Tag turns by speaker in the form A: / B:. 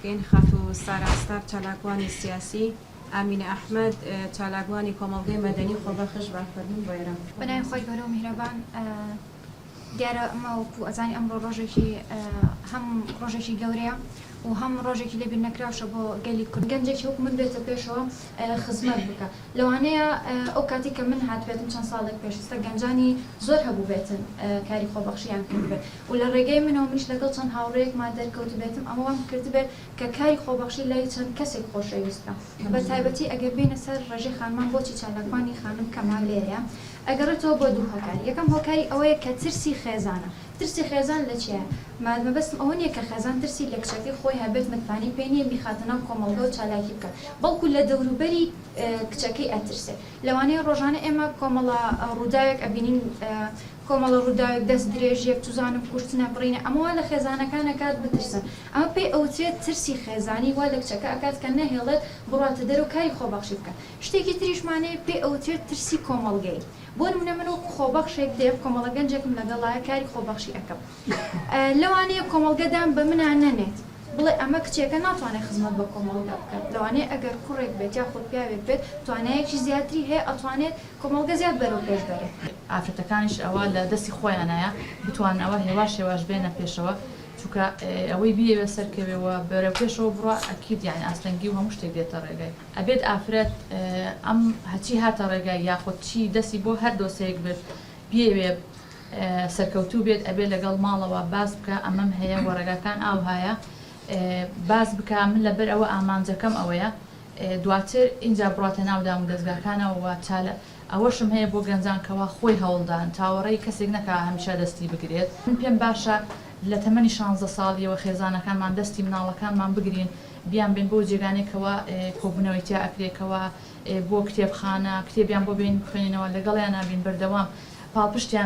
A: گەین خاتوو سارا ستار چالاکوانی سیاسی، ئامینە ئەحمەد چالاکوانی کۆمەڵگەی مەدەنی خۆبەخش بە فەرموون بۆیرە. بەناوی خوای گەورە و
B: میهرەبان دیارە ئەمە وەکو ئەزانی ئەمڕۆ ڕۆژێکی هەم ڕۆژێکی گەورەیە و هەم ڕۆژێکی لێ بیرنەکراوشە بۆ گەلی کورد گەنجێکی وەکو من بێتە پێشەوە خزمەت بکا لەوانەیە ئەو کاتی کە من هاتبێتم چەند ساڵێک پێش ئیستا گەنجانی زۆر هەبووبێتن کاری خۆبەخشیان کردبێت و لە ڕێگەی من و منیش لەگەڵ چەند هاوڕێیەکمان دەرکەوتبێتم ئەمە وام کردبێت کە کاری خۆبەخشی لای چەند کەسێک خۆشەویست بم بە تایبەتی ئەگەر بێینە سەر ڕێژەی خانمان بۆچی چالاکوانی خانم کەمە لێرەیا ئەگەڕێتەوە بۆ دوو هۆکار یەکەم هۆکاری ئەوەیە کە ترسی خێزانە ترسی خێزان لە چیایە مە مەبەستم ئەوە نیە کە خێزان ترسی لە کچەکەی خۆی هەبێت متمانەی پێ نیە بیخاتە ناو کۆمەڵگە و چالاکی بکات بەڵکو لە دەوروبەری کچەکەی ئەترسێ لەوانەیە ڕۆژانە ئێمە کۆمەڵە ڕووداوێک ئەبینین کۆمەڵە ڕووداوێک، دەست درێژیەک، چزانم کوشتنە، بڕینە، ئەمە وا لە خێزانەکان ئەکات بترسن، ئەمە پێی ئەوترێت ترسی خێزانی وا لە کچەکە ئەکات کە نەهێڵێت بڕواتە دەرەوە کاری خۆبەخشی بکات، شتێکی تریشمان هەیە پێی ئەوترێت ترسی کۆمەڵگەیی، بۆ نموونە من وەکو خۆبەخشێک دێم کۆمەڵە گەنجێکم لەگەڵایە کاری خۆبەخشی ئەکەم، لەوانەیە کۆمەڵگە دان بە منا نەنێت، بڵێ ئەمە کچێکە ناتوانێت خزمەت بە کۆمەڵگا بکات، لەوانەیە ئەگەر کوڕێک بێت یاخود پیاوێک بێت توانایەکی زیاتری هەیە ئەتوانێت کۆمەڵگە زیاد بەرەو پێش بەرێت. ئافرەتەکانیش ئەوە
C: لە دەستی خۆیانایە بتوانن ئەوە هێواش هێواش بێنە پێشەوە، چونکە ئەوەی بیەوێت سەرکەوێ و بەرەو پێشەوە بڕوا ئەکید یانی ئاستەنگی و هەموو شتێک دێتە ڕێگای، ئەبێت ئافرەت ئەم هەچی هاتە ڕێگای یاخود چی دەستی بۆ هەر دۆسێیەک بێت بیەوێت، سەرکەوتوو بێت ئەبێ لەگەڵ ماڵەوە باس بکا ئەمەم هەیە وە ڕێگاکان ئاوهایە باس بکا من لەبەر ئەوە ئامانجەکەم ئەوەیە دواتر ئینجا بڕاتە ناو دامودەزگاکانەوە وە چالە ئەوەشم هەیە بۆ گەنجان کەوا خۆی هەوڵدان چاوەڕێی کەسێک نەکا هەمیشە دەستی بگرێت من پێم باشە لە تەمەنی شانزدە ساڵیەوە خێزانەکانمان دەستی مناڵەکانمان بگرین بیان بەین بۆ جێگانێک کەوا کۆبونەوەی تیا ئەکرێ کەوا بۆ کتێبخانە کتێبیان بۆ بێین بخوێنینەوە لەگەڵیانا بین بەردەوام پاڵپشتیان